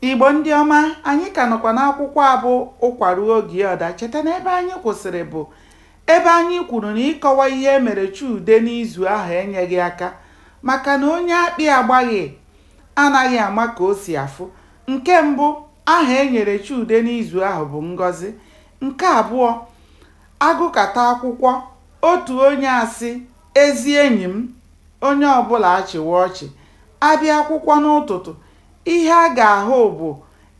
Igbo ndị ọma, anyị ka nọkwa n'akwụkwọ a bụ Ụkwa Ruo Oge Ọ Daa. Cheta na ebe anyị kwụsịrị bụ ebe anyị kwuru na ịkọwa ihe e mere Chude n'izu ahụ enyeghị aka maka na onye akpị agbaghị anaghị ama ka o si afụ. Nke mbụ, aha e nyere Chude n'izu ahụ bụ Ngọzi. Nke abụọ, a gụkata akwụkwọ, otu onye asị, ezi enyi m, onye ọbụla achịwa ọchị. A bịa akwụkwọ n'ụtụtụ, Ihe a ga-ahụ bụ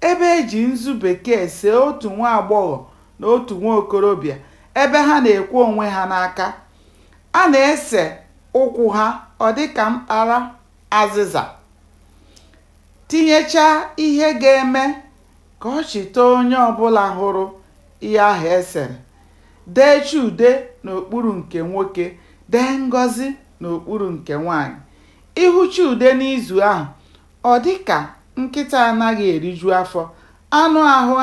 ebe e ji nzu bekee see otu nwa agbọghọ na otu nwa okorobịa ebe ha na-ekwe onwe ha n'aka. A na-ese ụkwụ ha ọ dị ka mkpara azịza, tinyechaa ihe ga-eme ka ọchị tọọ onye ọ bụla hụrụ ihe ahụ e sere, dee Chude n'okpuru nke nwoke, dee Ngọzi n'okpuru nke nwaanyị. Ị hụ Chude n'izu ahụ, ọ dị ka nkịta anaghị eriju afọ. Anụ ahụ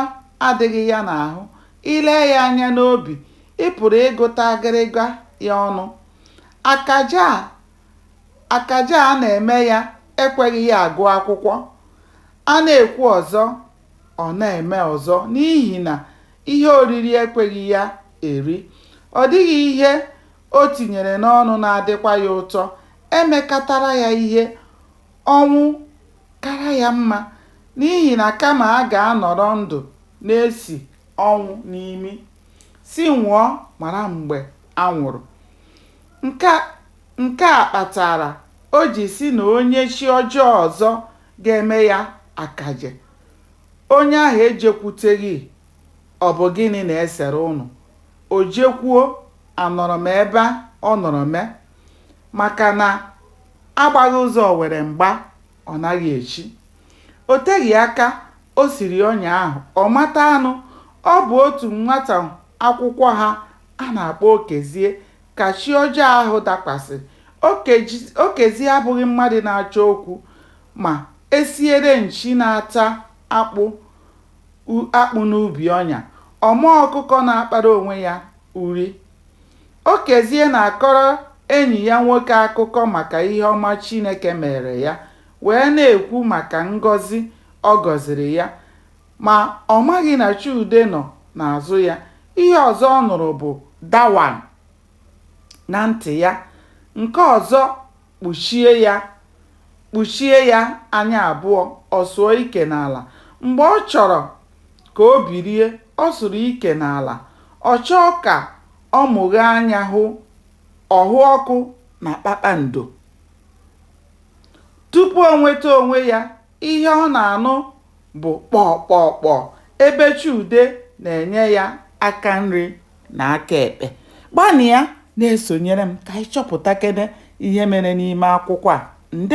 adịghị ya n'ahụ. I lee ya anya n'obi, ị pụrụ ịgụta agịrịga ya ọnụ. Akaje a akaje a na-eme ya ekweghị ya agụ akwụkwọ. A na-ekwu ọzọ, ọ na-eme ọzọ n'ihi na ihe oriri ekweghị ya eri. Ọ dịghị ihe o tinyere n'ọnụ na-adịkwa ya ụtọ, e mekatara ya ihe, ọnwụ kara ya mma, n'ihi na kama a ga-anọrọ ndụ na-esi ọnwụ n'imi, sị nwụọ mara mgbe a nwụrụ. Nke, nke a kpatara o ji sị na onye chi ọjọọ ọzọ ga-eme ya akaje, onye ahụ ejekwuteghị, ọ bụ gịnị na-esere ụnụ? O jekwuo, Anọrọ m ebe ọ nọrọ mee maka na a gbaghị ụzọ owere mgba, ọ naghị echi. O teghị aka o siri ọnya ahụ, ọ mata anụ. Ọ bụ otu nwata akwụkwọ ha a na-akpọ Okezie ka chi ọjọọ ahụ dakwasịrị. Okezie abụghị mmadụ na-achọ okwu ma e siere nchi na-ata akpụ n'ubi ọnya, ọ ma ọkụkọ na-akpara onwe ya nri. Okezie na-akọrọ enyi ya nwoke akụkọ maka ihe ọma Chineke meere ya wee na-ekwu maka ngọzi ọ gọziri ya. Ma, ọ maghị na Chude nọ n'azụ ya. Ihe ọzọ ọ nụrụ bụ dawan na ntị ya. Nke ọzọ Kpuchie ya. Kpuchie ya anya abụọ, ọ sụọ ike n'ala. Mgbe ọ chọrọ ka o bilie, ọ sụrụ ike n'ala. Ọ chọọ ka ọ mụghee anya hụ, ọ hụ ọkụ na kpakpando. Tupu o nweta onwe ya, Ihe ọ na-anụ bụ kpọọ kpọọ kpọọ ebe Chude na-enye ya aka nri na aka ekpe. Gbanịa na-esonyere m ka anyị chọpụtakene ihe mere n'ime akwụkwọ a. Ndewo!